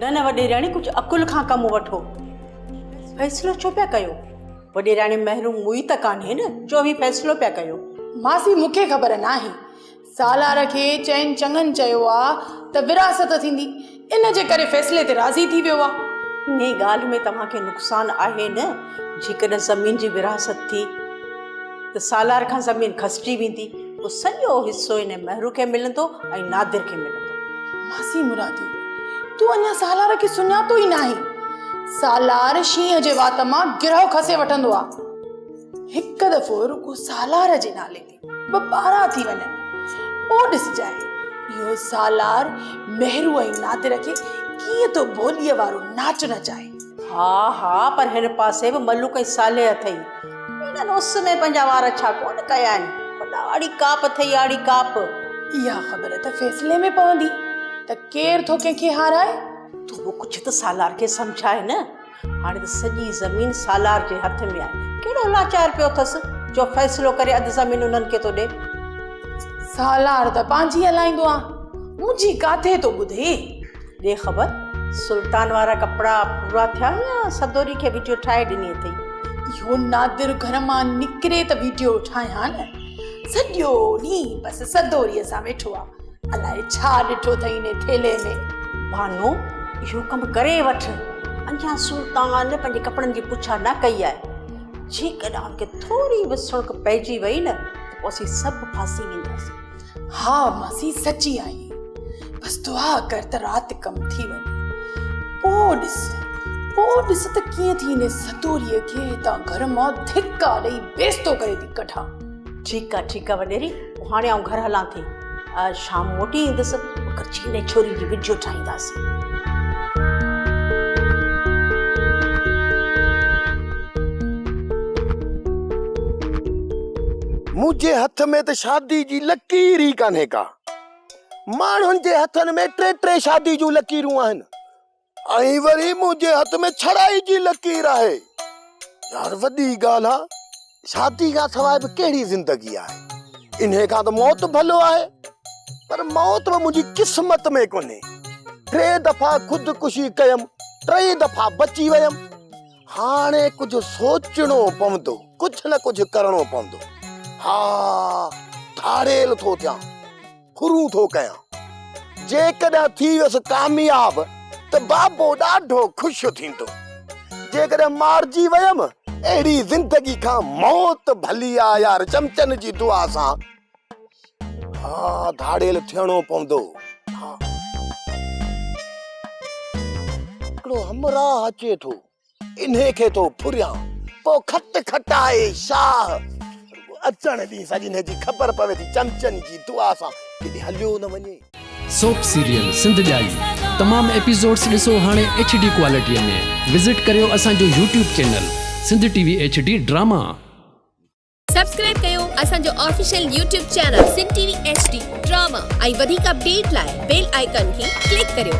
نه نه وڏيراڻي ڪجهه عقل کان ڪم وٺو فيصلو ڇو پيا ڪيو وڏيراڻي محروم موئي ته ڪانهي نه جو اوهين فيصلو پيا ڪيو ماسي مون کي خبر ناهي سالار کي چئن چڱن چيو آهي ته وراثت ٿيندي ان جي ڪري فيصلي تي راضي ٿي ويو آهي انهي ڳالهه ۾ توهان کي نقصان آهي نه جيڪڏهن زمين جي وراثت ٿي ته سالار کان زمين کسجي ويندي پوء سڄو حصو انهي مهرو کي ملندو ۽ نادر کي ملندو. ماسي مرادي تون اڃا سالار کي سڃاتو ئي ناهين. سالار شينهن جي وات مان گرهه کسي وٺندو آ. هڪ دفعو رڳو سالار جي نالي تي ٻه ٻارا ٿي وڃن پوء ڏسجانء اهو سالار مهرو ۽ نادر کي ڪيئن ٿو ڀوليء وارو ناچ نچائي. ها ها پر هن پاسي به ملوڪ ۽ صالح اٿئي. انهن اس ۾ پنهنجا وار ڇا ڪونه ڪيا آهن. خدا آڙي ڪاپ اٿئي آڙي ڪاپ. اها خبر ته فيصلي ۾ پوندي ته ڪير ٿو ڪنهن کي هارائي. تون به ڪجهه ته سالار کي سمجهاء نه. هاڻي ته سڄي زمين سالار جي هٿ ۾ آهي. ڪهڙو لاچار پيو اٿس جو فيصلو ڪري اڌ زمين انهن کي ٿو ڏئي. سالار ته پنهنجي هلائيندو آ. منهنجي ڪاٿي ٿو ٻڌي. ڏي خبر سلطان وارا ڪپڙا پورا ٿيا يا سدوري کي وڊيو ٺاهي ڏني اٿئي. اهو نادر گهر مان نڪري ته وڊيو ٺاهيان نه. سڄو ڏينهن بس سدوريء سان ويٺو آ. الاء ڇا ڏٺو اٿئي انهي ٿيلهي ۾. بانو اهو ڪم ڪري وٺ. اڃا سلطان پنهنجي ڪپڙن جي پڇا نه ڪئي آهي. جيڪڏهن ان کي ٿوري به سڻڪ پئجي وئي نه ته پوء اسين سڀ ڦاسي وينداسين. ها ماسي سچي آهي بس دعا ڪر ته رات ڪم ٿي وڃي پوء ڏس پوء ڏس ته ڪيئن ٿي هن ستوريء کي هتان گهر مان ڌڪا ڏئي بيستو ڪري ٿي ڪڍان ٺيڪ آهي ٺيڪ آهي وڏيري هاڻي آئون گهر هلان ٿي شام موٽي ايندس ڪچي هن ڇوري جي وڊيو ٺاهينداسين. منهنجي هٿ ۾ ته شادي جي لڪير ئي ڪانهي ڪا. ماڻهن جي هٿن ۾ ٽي ٽي شادي جون لڪيرون آهن. ۽ وري منهنجي هٿ ۾ ڇڙائي جي لڪير آهي. يار وڏي ڳالهه آ. شادي کان سواء به ڪهڙي زندگي آهي. انهي کان ته موت ڀلو آهي. پر موت به منهنجي قسمت ۾ ڪونهي. ٽي دفعا خودڪشي ڪيم، ٽئي دفعا بچي ويم. هاڻي ڪجهه سوچڻو پوندو، ڪجهه نه ڪجهه ڪرڻو پوندو. ها ڌاڙيل ٿو ٿيان. ڦرون ٿو ڪيان. جيڪڏهن ٿي ويس ڪامياب ته بابو ڏاڍو خوش ٿيندو. جيڪڏهن مارجي ويم اهڙي زندگي کان موت ڀلي آ يار چمچن جي دعا سان ها ڌاڙيل ٿيڻو پوندو. هڪڙو همراهه اچي ٿو. انهي کي ٿو ڦريان، پوء کٽ کٽائي شاهه. اچڻ ڏينهن سڄنهي جي خبر پوي ٿي، چمچن جي دعا سان ڪيڏي هليو نه وڃي. سوپ سيريل سنڌ ڄائي تمام ايپيسوڊس ڏسو هاڻي ايڇ ڊي ڪوالٽي ۾ وزٽ ڪريو اسان جو YouTube channel Sindh TV H D ڊي ڊراما. سبسڪرائب ڪيو اسان جو official YouTube channel Sindh TV H D ڊي ڊراما ۽ وڌيڪ اپڊيٽ لاء بيل آئيڪان کي ڪلڪ ڪريو.